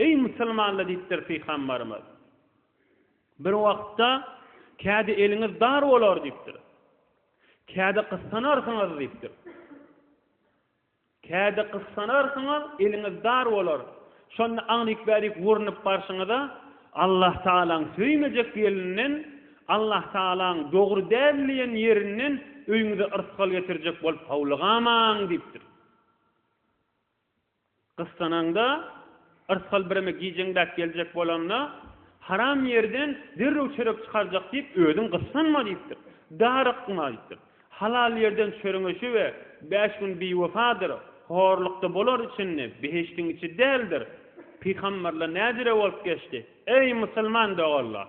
Eý, musulmanlar diýipdir Pygambarymyz. Bir wagtda kädi eliňiz dar bolar diýipdir. Kädi gyssanarsyňyz diýipdir. Kädi gyssanarsyňyz, eliňiz dar bolar. Şonda aňryk-bärik urnup barşyňyza Allah Tagalaň söýmejek ýerinden, Allah Tagalaň dogry däl diýen ýerinden öýüňize yrsgal getirjek bolup howlugamaň diýipdir. Gyssanaňda, yrsgal bireme gijeňdäp geljek bolanda, Haram ýerden derrew çörek çykarjak diýip, özüň gyssanma diýipdir. Darykma aýtdyp, halal ýerden çöreňeşi we bäş gün biwefadyr, horlukda bolar içinde, behişdiň içi däldir. Pygamberler näjire bolup geçdi, eý, musulman doganlar!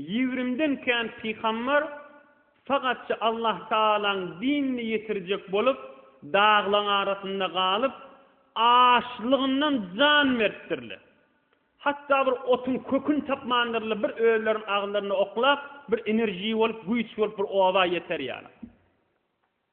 Ýigrimden kän pygambar sagatja Allahtagalaň dinini ýetirjek bolup, daglaň arasynda galyp, açlygyndan jan beripdirler. Hatda bir otuň köküni tapmandyrlar, bir özleriniň agzlarynda oklap, bir enerji bolup, güýç bolup bir oba ýeter ýaly.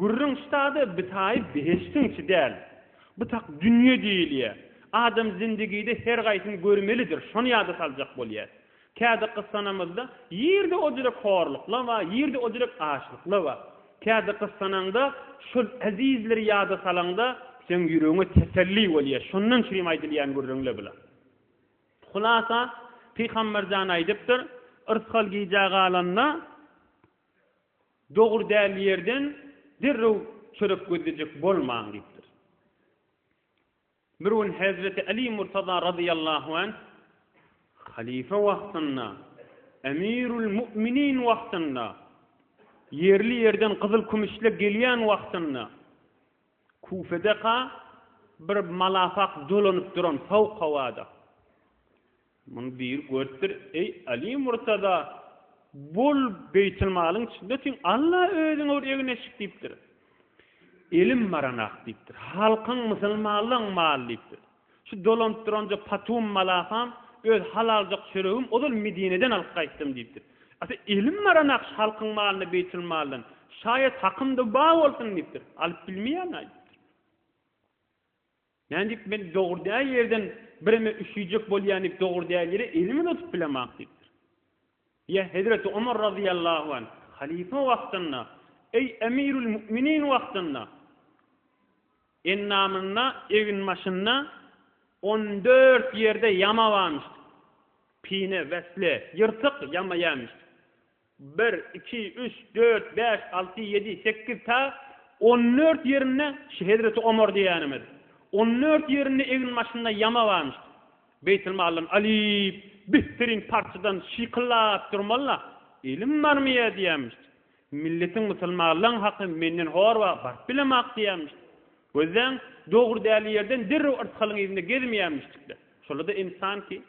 Gürrüň ştada bitaýy behiştiň içi däl. Butak dünýe diýilýär. Adam zindigide her gaýsyny görmelidir, şony ýada saljak bolýas. Kädi gyssanamyzda ýerde ojrek horlukla bar, ýerde ojrek açlykla bar. Kädi gyssanaňda, şol ezizleri ýada salaňda, seň ýüregiňe teselli bolýar. Şondan çürim aýdylýan gürrüňle bula. Hulasa, Pygamberjan aýdypdyr, Yrsgal gijä galanda, Dogry däl ýerden derrew çörek gözlejek bolmaň diýipdir. Bir gün hezreti Aly Murtaza razyýallahu anh halyfa wagtynda, Emirul Mu'minin wagtynda, ýerli ýerden gyzyl kümüşle gelýän wagtynda Kufedeka bir malapak dolanyp duran sowuk howada. Muny biri görüpdir, Eý, Aly Murtada, bol beýtilmalyň içinde otyň, Alla özüňe bir egin eşik diýipdir. Elim baranak diýipdir. Halkyň, musulmanlaň maly diýipdir. Şu dolanyp duranja Patum malakam, öz halaljak çöregim ozal Medineden alyp gaýtdym diýipdir. Ata, elim baranak şu halkyň malyny beýtilmaldan, şaýat hakym-da bar bolsun diýipdir. Alyp bilmeýärin-aý diýipdir. Nädip men dogry däl ýerden bireme üşüýjek bolýan diýip dogry däl ýere elimi tutup bilemok diýipdir. Ýa Hezreti Omar razyýallahu anh halyfa wagtynda, eý Emirül Mu'minin wagtynda endamynda, eginbaşynda on dört ýerde ýama barmyşdy. Pine, wesle, ýyrtyk ýama ýämişdi. bir, iki, üç, dört, bäş, alty, ýedi, sekiz ta on dört ýerinde şu hezreti Omar diýýänimiz on dört ýerinde egin başynda ýama barmyşdy. Beýtilmaldan alyp, bihtirin parçadan şykyllap durmaly-la, ilim barmy ýa diýýänmişdi. Milletiň musulmanlaň haky menden hor ba, baryp bilemok diýýänmişdi. Gözläň, dogry däli ýerden derrew yrsgalyň yzynda gezmeýänmişdik-le. Şola-da ynsan ki,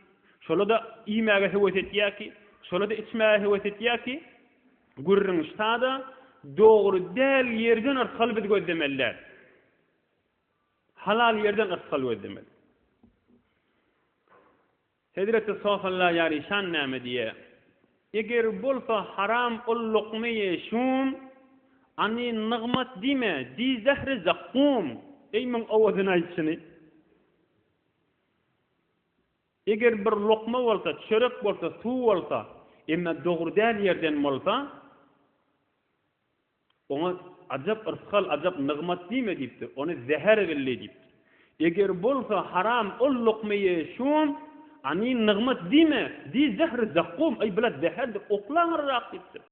şola-da iýmäge höwes etýär ki, şola-da içmäge höwes etýär ki, gürrüň ştada dogry däl ýerden yrtgal biz gözlemeli däl. Halal ýerden yrtgal gözlemeli. Hezreti Sofalla ýaryşan näme diýe, Eger bolsa haram ol lokma-i şum, any nygmat diýme, diý zähri zakkum, eý, müň owazyny aýt şuny. Eger bir lokma bolsa, çörek bolsa, suw bolsa, emma dogry däl ýerden bolsa, oňa ajap yrsgal, ajap nygmat diýme diýipdir, ony zäher billi diýipdir. Eger bolsa haram ol lokma ýeýşiň, any nygmat diýme, diý zähri zakkum, aý, blat zäherdir, oklaň yzrak diýipdir.